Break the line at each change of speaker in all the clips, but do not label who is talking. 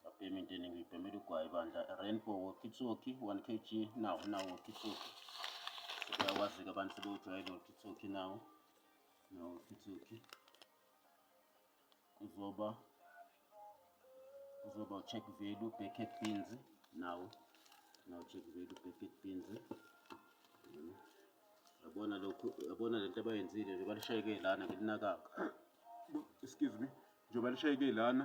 Ngabhema into eningi ngibhemela ugwayi bandla rainbow wokitsoki 1 kg nawo nawo wokitsoki uyawazi-ke abantu sebewujwayele wokitsoki nawo nawo wokitsoki kuzoba kuzoba ucheck value backet beans nawo nawo check value backet beans yabona lokhu yabona lento abayenzile nje balishayeke lana ngilinakanga excuse me nje balishayeke lana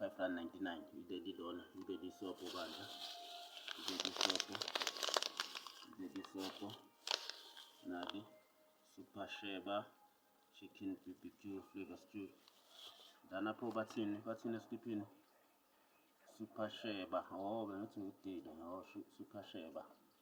599 ibe lilona ibe lisobho bandla ibe lisobho ibe lisobho nali super sheba chicken bbq flavor stew lana pho bathini bathini esikhiphini super sheba oh bengithi ngudile oh super sheba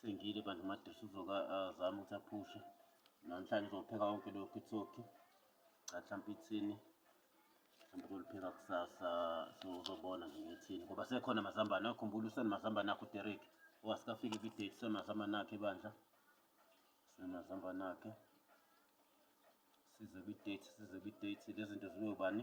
Sengile bandla uMadusi uzoka azama ukuthi aphushe namhlanje uzopheka wonke loyo kitsoki cha mhlawumpe ithini mhlawumpe kolipheka kusasa so uzobona nje ngethini ngoba sekhona amazambane akhumbula usenamazambane akho uDerek owasikafike kwi-date usenamazambane akhe bandla usenamazambane akhe size kwi-date size kwi-date lezi zinto zibe ubani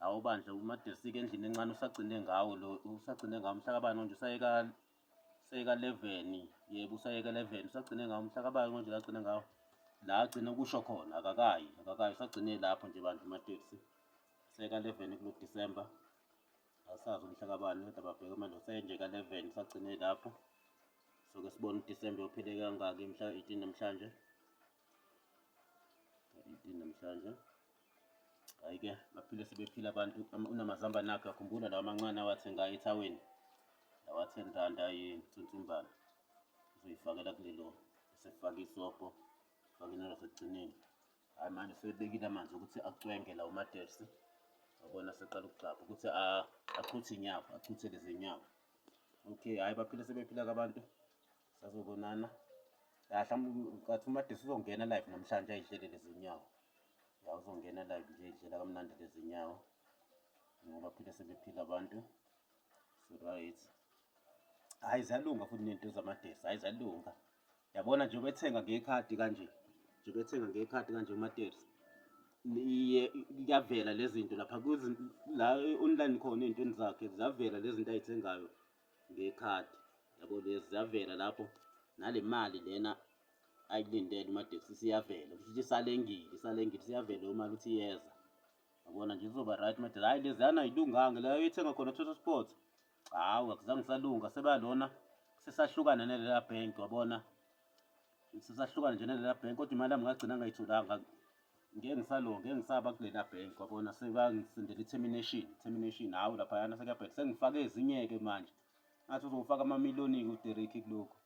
Hawu bandla umadersika endlini encane usagcine ngawo lo usagcine ngawo mhlakabani konje usayeka sayeka 11 yebo usayeka 11 usagcine ngawo mhlakabani konje lagcine ngawo la agcine kusho khona akakayi akakayi usagcine lapho nje bandla umadeksi sayeka 11 kulo December asazi umhlakabani kodwa babheke manje usayenje ka 11 usagcine lapho so ke sibone uDecember uphile kangaki mhla 18 namhlanje 18 namhlanje Hhayi-ke baphile sebephila abantu unamazambane akhe akhumbula lawa amancane awathenga ethaweni lawa ten rand ayinsunsumbana uzoyifakela kulelo esefake isobho fake inalo sekugcineni hhayi manje sebebekile amanzi ukuthi acwenge lawo madersi wabona seqala ukugxapha ukuthi achuthe inyama achuthe lezi nyama okay hhayi baphile sebephila-ke abantu sazobonana la mhlawumbe ucathi umadisi uzongena live namhlanje ayidlele lezinyawo ya uzongena live nje idlela kamnandi lezinyawo ngoba phile sebephila abantu so right hayi ziyalunga futhi nento zamadesi hayi ziyalunga yabona nje bethenga ngekhadi kanje nje bethenga ngekhadi kanje umadesi iye kuyavela lezinto lapha la online khona ezintweni zakhe ziyavela lezinto ayithengayo ngekhadi yabo lezi ziyavela lapho nale mali lena ayilindele umadeksi siyavela kusho ukuthi isalengile isalengile siyavela imali ukuthi iyeza yabona nje kuzoba right made hayi leziyana ayilunganga leyo ethenga khona total sport hawu akuzange salunga sebalona sesahlukana nelela bank wabona Sisahlukana nje nalela bhenki kodwa imali yami ngagcina ngayitholanga. Ngeke ngisalo, ngeke ngisaba kulela bhenki wabona sebangisindela i-termination, termination hhawu laphayana sekuyabheda. Sengifake ezinye-ke manje. Ngathi uzofaka amamiliyoni-ke uDerek kulokhu.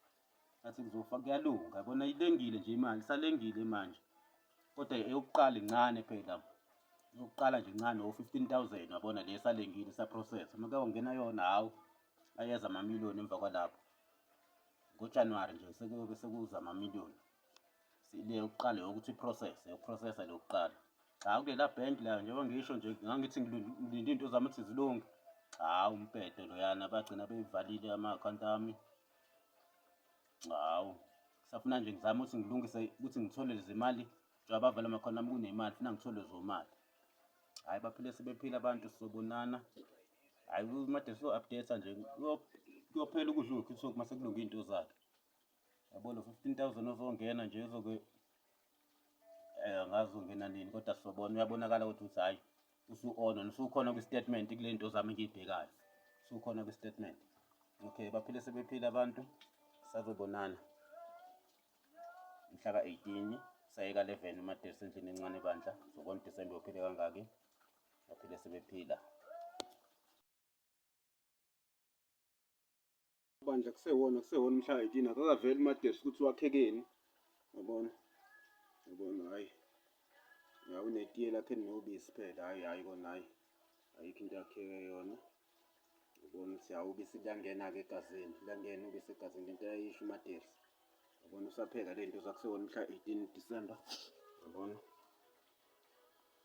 Ngathi kuzofaka kuyalunga yabona ilengile nje imali, isalengile manje. Kodwa eyokuqala incane phela. Eyokuqala nje incane o-fifteen thousand wabona le esalengile isaprocess. Uma kuyongena yona hhawu ayeza amamiliyoni emva kwalapho. ngojanuwari nje sekuyobe sekuza amamiliyoni le yokuqala yokuthi iprocess yokuprocessa le yokuqala cha kulela bank layo njengoba ngisho nje ngangithi ngilinde into zami ukuthi zilunge cha umpedo loyana bagcina beyivalile ama-akhawunti ami hawu safuna nje ngizame ukuthi ngilungise ukuthi ngithole lezimali njengoba bavale amakhona ami kunemali funa ngithole zomali hhayi baphile sebephile abantu sobonana Hayi uMadesi uyo-update nje kuyophela ukudla uyokhithoki mase kulunga iy'nto zakhe. Yabo lo fifteen thousand ozongena nje uzoke eh, angazi uzongena nini kodwa sobona uyabonakala ukuthi uthi hhayi usu-ona usukhona kwi-statement kule nto zami engiyibhekayo usukhona kwi-statement okay baphile sebephile abantu sazobonana mhla ka-18 sayeka 11 umadesi endlini encane bandla zokona udisembe uphile kangaki baphile sebephila. Bandla kusewona kusewona umhla 18 akakaveli uMadesi ukuthi wakhekeni. Yabona? Yabona hayi. Ya unetiye lakhe nobisi phela hayi hayi kona hayi. Ayikho into yakheke yona. Yabona ukuthi hawu ubisi liyangena ke egazini. Liyangena ubisi egazini into ayisho uMadesi. Yabona usapheka lento zakusewona umhla 18 December. Yabona?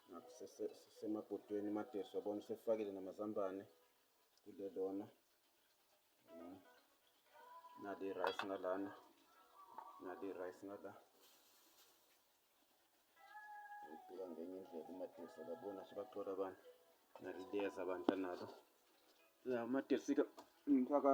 Ngakho sisemabhodweni imadeso yabona sefakile namazambane kule lona nali irayisi ngalana nali irayisi ngala ngibheka ngenye indlela umadeso labona sibaxola abantu naliliyeza bandla nalo la umadeso-ke ngifaka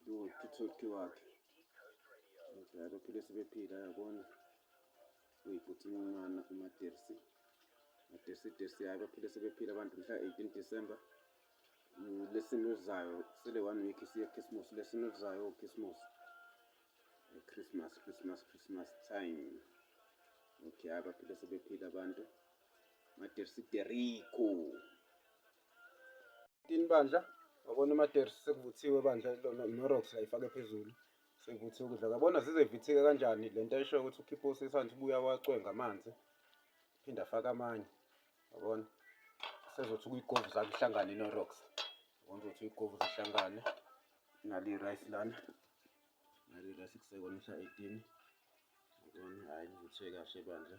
njengothuthuki wakhe ngidlala bephile sebephila yabona uyibhuthi incana umadersi madersi dersi yayo baphile sebephila abantu mhla 18 december lesini elizayo sele one week siye christmas lesini elizayo christmas christmas christmas christmas time okay abaphile sebephila abantu madersi deriko Tini bandla wabona umatersi sekuvuthiwe bandla lona norox la ifake phezulu sekuvuthiwe ukudla kabona zizevithika kanjani le nto esho ukuthi ukhiphe usisanthe ubuya wacwenga amanzi phinde afake amanye yabona sezothi kuyigovu zakuhlangane norox yabona ukuthi uyigovu zihlangane nali rice lana nali rice kusekona mhla 18 yabona hhayi ngithwe kahle bandla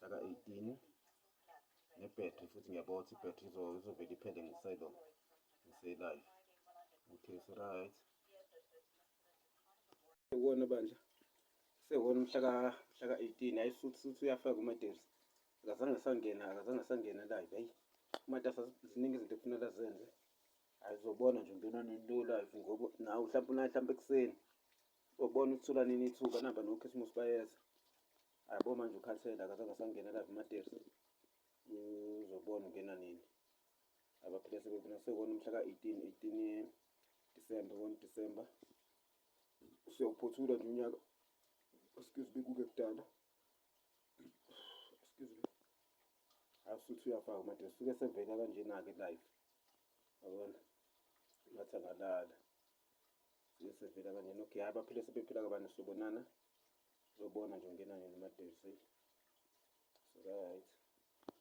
mhlaka 18 nebhetri futhi ngiyabona ukuthi ibhetri izovele iphele ngiselo ngiselive okay so right sewona bandla sewona mhlaka mhlaka 18 hayi futhi futhi uyafaka umatezi akazange sangena akazange sangena live hayi umatasa ziningi izinto ekufuneka zenze ayizobona nje ngena nilula ngoba nawe mhlawumbe unayo mhlawumbe ekuseni Ubona ukuthi thola nini ithuba namba nokhisimusi bayeza ayabo manje ukhathele akazange asangena live matersi uzobona ungena nini abaphile sebebona sekona umhla ka-18 18 disemba 1 disemba siyawuphothula nje unyaka excuse me kuke kudala excuse me asuthi uyafaka matersi suke sevela kanjena-ke live yabona ngathi angalala Sesevela kanye no Giya baphile sebephila kabani sobonana. Uzobona nje ungena nini madevu sey. So right.